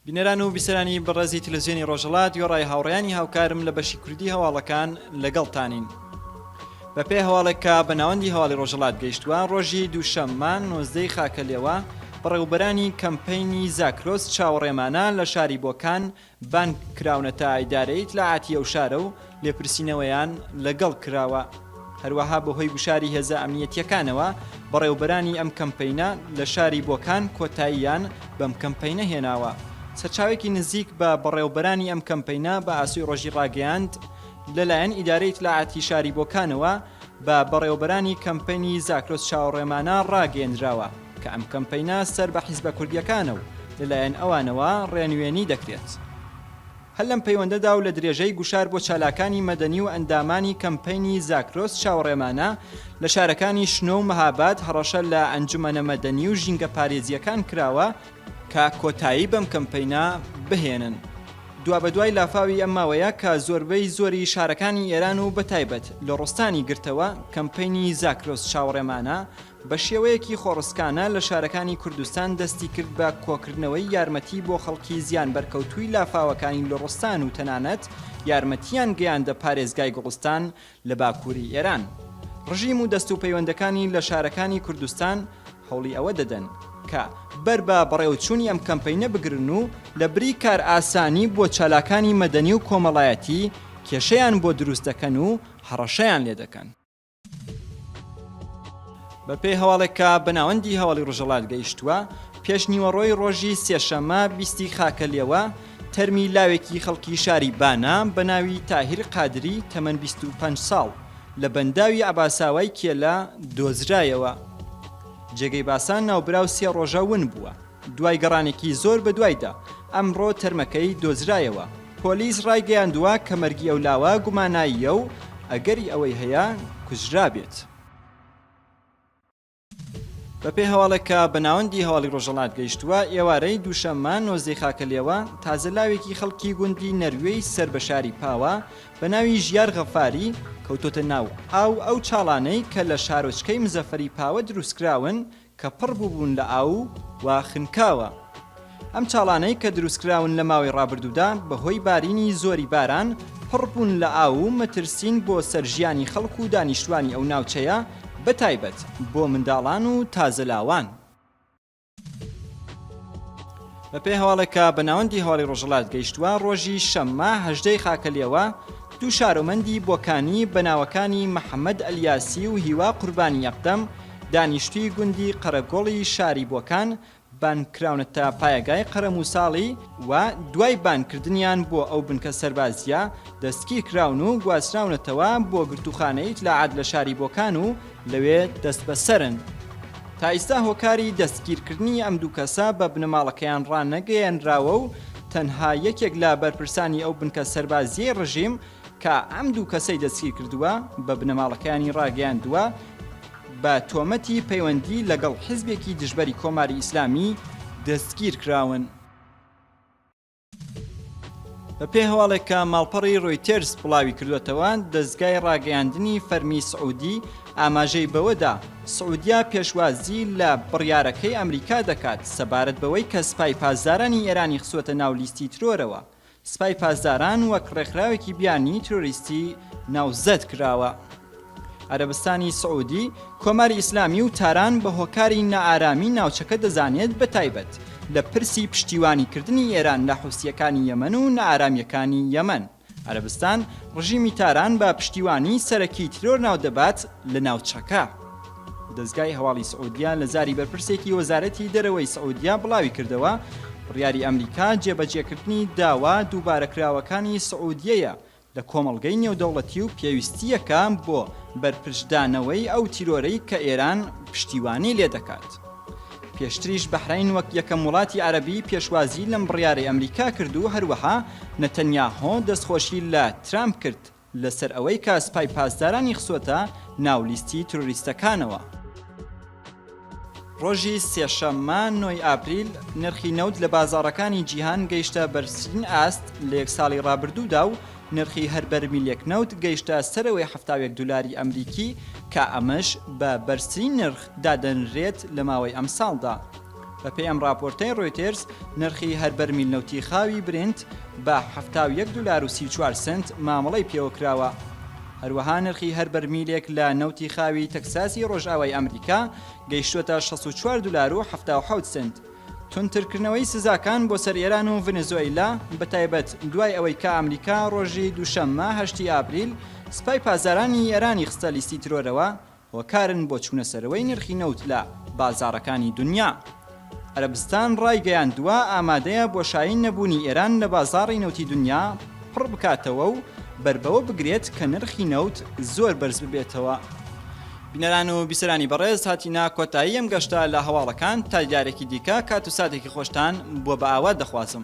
بینەران و بیسەرانی بەڕێزی تلزیێنی ڕۆژەڵات یۆڕای هاوڕیانی هاوکارم لە بەشی کوردی هەواڵەکان لەگەڵتانین. بە پێ هەواڵێکە بە ناوەندی هەواڵی ڕۆژەڵات گەیشتووە ڕۆژی دووشەممان نۆزدەی خاکە لێوە بەڕێوبەرانی کەمپینی زاکرۆس چاوەڕێمانە لە شاری بۆکان بانگ کراونەتە ئیدارەی ئیتلاعاتی ئەو شارە و لێپرسینەوەیان لە گەڵ کراوە. هەروەها بە هۆی گوشاری هێزە ئەمنیەتیەکانەوە بەڕێوبەرانی ئەم کەمپەینە لە شاری بۆکان کۆتاییان بەم کەمپەینە هێناوە. سەرچاوەیەکی نزیک بە بەڕێوبەرانی ئەم کەمپەینە بە ئاسۆی ڕۆژی ڕاگەیاند لە لایەن ئیدارەی ئیتلاعاتی شاری بۆکانەوە بە بەڕێوەبەرانی کەمپەینی زاکرۆس چاوەڕێمانە ڕاگەیەنراوە کە ئەم کەمپەینە سەر بە حیزبە کوردییەکانە و لەلایەن ئەوانەوە ڕێنوێنی دەکرێت. هەر لەم پەیوەندەدا و لە درێژەی گوشار بۆ چالاکانی مەدەنی و ئەندامانی کەمپەینی زاکرۆس چاوەڕێمانە لە شارەکانی شنۆ و مەهاباد هەڕەشە لە ئەنجومەنە مەدەنی و ژینگەپارێزییەکان کراوە کە کۆتایی بەم کەمپەینە بهێنن. دوابەدوای لافاوی ئەم ماوەیە کە زۆربەی زۆری شارەکانی ئێران و بەتایبەت لوڕستانی گرتەوە، کەمپەینی زاکرۆس چاوەڕێمانە بە شێوەیەکی خۆڕسکانە لە شارەکانی کوردستان دەستی کرد بە کۆکردنەوەی یارمەتی بۆ خەڵکی زیانبەرکەوتووی لافاوەکانی لوڕستان و تەنانەت یارمەتییان گەیاندە پارێزگای گوڵستان لە باکووری ئێران، ڕژیم و دەست و پەیوەندەکانی لە شارەکانی کوردستان هەوڵی ئەوە دەدەن کە بەر بە بەڕێوەچوونی ئەم کەمپەینە بگرن و لە بری کارئاسانی بۆ چالاکانی مەدەنی و کۆمەڵایەتی کێشەیان بۆ دروست دەکەن و هەڕەشەیان لێ دەکەن. بە پێی هەواڵێک کە بە ناوەندی هەواڵی ڕۆژهەڵات گەیشتووە، پێشنیوەڕۆی ڕۆژی سێشەممە بیست ی خاکەلێوە، تەرمی لاوێکی خەڵکی شاری بانە بە ناوی تاهیر قادری تەمەن بیست و پەنج ساڵ لە بەنداوی عەباساوای کێلە دۆزرایەوە. جێگەی باسە ناوبراو سێ ڕۆژە ون بووە، دوای گەڕانێکی زۆر بەدوایدا ئەمڕۆ تەرمەکەی دۆزرایەوە. پۆلیس ڕایگەیاندووە کە مەرگی ئەو لاوە گوماناییە و ئەگەری ئەوەی هەیە کوژرابێت. بەپێی هەواڵێک کە بە ناوەندی هەواڵی ڕۆژەڵات گەیشتووە، ئێوارەی دووشەممە نۆزدەی خاکەلێوە، تازە لاوێکی خەڵکی گوندی نەروێی سەر بە شاری پاوە بە ناوی ژیار غەفاری، کەوتۆتە ناو ئاو، ئەو چاڵانەی کە لە شارۆچکەی مزەفەری پاوە دروستکراون کە پڕ بووبوون لە ئاو و خنکاوە. ئەم چاڵانەی کە دروستکراون لە ماوەی ڕابردوودا بەهۆی بارینی زۆری باران پڕبوون لە ئاو و مەترسین بۆ سەر ژیانی خەڵک و دانیشتوانی ئەو ناوچەیە بە تایبەت بۆ منداڵان و تازە لاوان. بە پێی هەواڵێک کە بە ناوەندی هەواڵی ڕۆژهەڵات گەیشتووە ڕۆژی شەممە هەژدە ی خاکەلێوە دوو شارۆمەندی بۆکانی بە ناوەکانی محەمەد ئەلیاسی و هیوا قوربانی یەقدەم دانیشتووی گوندی قەرەگۆڵی شاری بۆکان بانگکراونە تا پایەگای قەرەمووساڵی و دوای بانگکردنیان بۆ ئەو بنکە سەربازییە، دەستگیرکراون و گواستراونەتەوە بۆ گرتووخانەی ئیتلاعات لە شاری بۆکان و لەوێ دەستبەسەرن. تا ئیستا هۆکاری دەستگیرکردنی ئەم دوو کەسە بە بنەماڵەکەیان ڕانەگەیەنراوە و تەنها یەکێک لە بەرپرسانی ئەو بنکە سەربازییەی ڕژیم، کە ئەم دوو کەسەی دەستگیرکردووە بە بنەماڵەکەیانی ڕاگەیاندووە، بە تۆمەتی پەیوەندی لەگەڵ حزبێکی دژبەری کۆماری ئیسلامی دەستگیرکراون. بەپێی هەواڵێک کە ماڵپەڕی ڕۆیتێرز بڵاویکردووەتەوە، دەزگای ڕاگەیاندنی فەرمی سعودی ئاماژەی بەوەدا، سعودیە پێشوازی لە بڕیارەکەی ئەمریکا دەکات سەبارەت بەوەی کە سپای پاسدارانی ئێرانی خستووەتە ناو لیستی ترۆرەوە، سپای پاسداران وەک ڕێکخراوێکی بیانی ترۆریستی ناوزەد کراوە. عەرەبستانی سعودی، کۆماری ئیسلامی و تاران بە هۆکاری نائارامی ناوچەکە دەزانێت بە تایبەت لە پرسی پشتیوانی کردنی ئێران لە حوسییەکانی یەمەن و نائارامییەکانی یەمەن، عەرەبستان ڕژیمی تاران بە پشتیوانی سەرەکی ترۆر ناودەبات لە ناوچەکە. دەزگای هەواڵی سعودیە لە زاری بەرپرسێکی وەزارەتی دەرەوەی سعودیە بڵاویکردەوە، بڕیاری ئەمریکا جێبەجێکردنی داوا دووبارەکراوەکانی سعودیەیە لە کۆمەڵگەی نێودەوڵەتی و پێویستییەکە بۆ بەرپرچدانەوەی ئەو تیرۆرەی کە ئێران پشتیوانی لێدەکات. پێشتریش بەحرەین وەک یەکەم وڵاتی عەرەبی پێشوازی لەم بڕیارەی ئەمریکا کرد و هەروەها نەتەنیاهۆ دەستخۆشی لە ترامپ کرد لەسەر ئەوەی کە سپای پاسدارانی خستووەتە ناو لیستی ترۆریستەکانەوە. ڕۆژی سێشەممە نۆی ئاپریل، نرخی نەوت لە بازاڕەکانی جیهان گەیشتە بەرزترین ئاست لە یەک ساڵی ڕابردوودا و نرخی هەر بەرمیلێک نەوت گەیشتە سەرەوەی حەفتا و یەک دولاری ئەمریکی کە ئەمەش بە بەرزترین نرخ دادەنرێت لە ماوەی ئەمساڵدا. بەپێی ئەم ڕاپۆرتەی ڕۆیتێرز، نرخی هەر بەرمیل نەوتی خاوی برینت بە حەفتا و یەک دولار و سی و چوار سەنت مامەڵەی پێوەکراوە. هەروەها نرخی هەر بەرمیلێک لە نەوتی خاوی تەکساسی ڕۆژئاوای ئەمریکا گەیشتووەتە شەست و چوار دولار و حەفتا و حەوت سەنت. توندترکردنەوەی سزاکان بۆ سەر ئێران و ڤنزۆئیلا، بەتایبەت دوای ئەوەی کە ئەمریکا ڕۆژی دووشەممە هەشتی ئابریل سپای پاسدارانی ئێرانی خستە لیستی ترۆرەوە، هۆکارن بۆ چوونە سەرەوەی نرخی نەوت لە بازاڕەکانی دونیا. عەرەبستان ڕایگەیاندووە ئامادەیە بۆشایی نەبوونی ئێران لە بازاڕی نەوتی دونیا پڕ بکاتەوە و بەر بەوە بگرێت کە نرخی نەوت زۆر بەرز ببێتەوە. بینەران و بیسەرانی بەڕێز هاتینە کۆتایی ئەم گەشتە لە هەواڵەکان تا دیارێکی دیکە کات و ساتێکی خۆشتان بۆ بە ئاوات دەخوازم.